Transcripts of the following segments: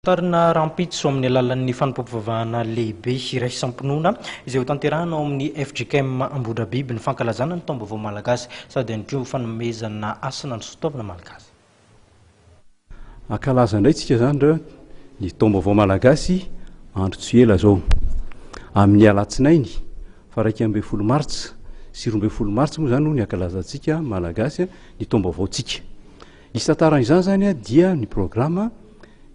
Tarina rahampitso amin'ny alalan'ny fanompoampivavahana lehibe iraisam-pinoana izay hotanterahina ao amin'ny fjkm Ambohidrabiby ny fankalazana ny Taombaovao Malagasy sady ihany koa fanomezana hasina ny soatoavina malagasy. Hankalaza indray isika izany re ny Taombaovao Malagasy andro tsy ela izao. Amin'ny alatsinainy faha iraika ambin'ny folo martsa sy roa ambin'ny folo martsa moa izany no ny hankalazantsika Malagasy ny Taombaovaontsika. Isantaran izany zany dia ny programa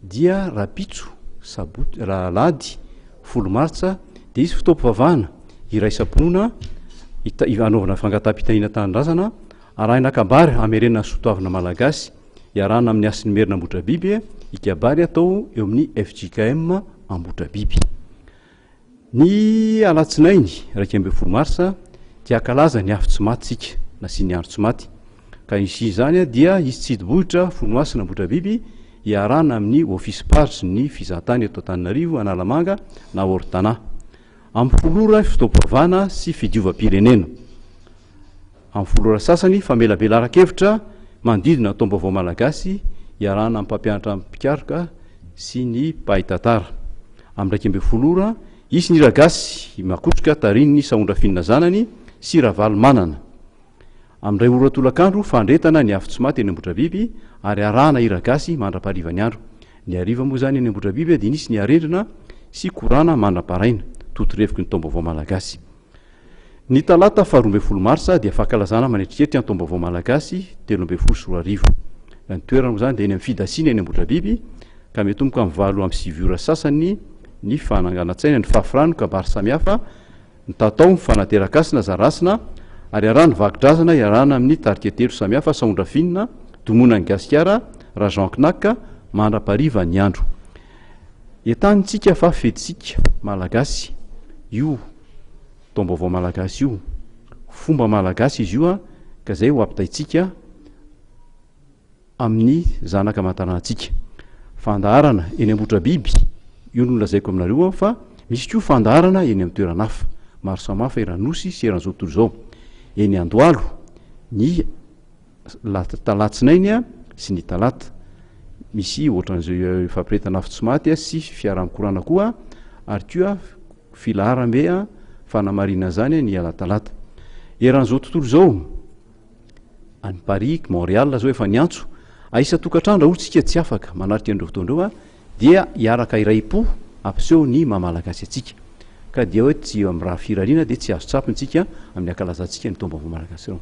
dia rabitso sabotsy ra alahady folo martsa dia hisy fotoam-pivavahana iraisam-pinoana hita hanaovana fangataham-pitaniana tanindrazana arahina kabary hamerenana ny sotoavina malagasy iarahana amin'ny hasin'ny merina ambotrabiby i kabary atao eo amin'ny fjkm ambotrabiby Ny alatsinainy iraika ambin'ny folo marsa dia hankalaza ny afo tsy maty isika, na sy ny andro tsy maty. Ka initia izany dia hisy tsidibohitra fony masina Ambohidrabiby hiarahana amin'ny Office Page ny fizahantany eto Antananarivo, Analamanga na Ortana. Amin'ny folo ora ny fotoam-pivavahana sy fidiovam-pirenena. Amin'ny folo ora sasany, famelabelaran-kevitra manodidina ny taom-baovao malagasy iarahana amin'ny mpampianatra mpikaroka sy ny mpahay tantara. Amin'ny iraika ambin'ny folo ora, hisy ny hiragasy i Makotroka tarihin'ny Sahondrafinina zanany sy Ravalomanana. Amin'ny iray ora tolakandro, fandretana ny afo tsy maty eny Ambohidrabiby ary arahana hiragasy mandra-paharivan'ny andro. Ny hariva moa izany eny Ambohidrabiby dia nisy ny harendrina sy korana mandra-paraina, totorevoky ny taom-baovao malagasy. Ny talata faharoa ambin'ny folo marsa dia fankalazana manetriketrika ny taom-baovao malagasy telo ambin'ny folo sy roa arivo. Ny toerana moa izany dia eny amin'ny Fidasina eny Ambohidrabiby ka miatomboka amin'ny valo amby sivy ora sasany ny fananganan-tsaina, ny fahafrano, kabary samihafa, ny tatao, ny fanateran-kasina, zarasina ary araha ny vakodrazana iarahana amin'ny tarika telo samihafa, Saondrafinina, Domonan'i Gasikara, Rajean Knack, mandra-pariva ny andro. Entanintsika fa fetsika malagasy io taom-baovao malagasy io. Fomba malagasy izy io ka izay ho ampitaintsika amin'ny zanaka aman-tanàntsika. Fandaharana eny Ambohitrabiby io no nolazaiko aminareo fa misy koa fandaharana eny amin'ny toerana hafa maro samihafa eran'ny Nosy sy eran'izao tontolo izao. Eny Andohalo ny la talatsinainy sy ny talata. Misy ohatran'izao fampiretana afo tsy maty sy fiarankorana koa ary koa filaharambe fanamarihina an'izany ny alatalata. Eran'izao tontolo izao, any Paris, Montréal izao efa niantso a isan-tokantrano raha ohatra isika tsy afaka manarika an'ireo fotoana ireo dia hiaraka iray-po hampiseho ny maha malagasy antsika. Ka dia hoe tsy amin'ny raha firariana dia tsy azo tsapy ny tsika amin'ny ankalazantsika ny taom-baovao malagasy ireo.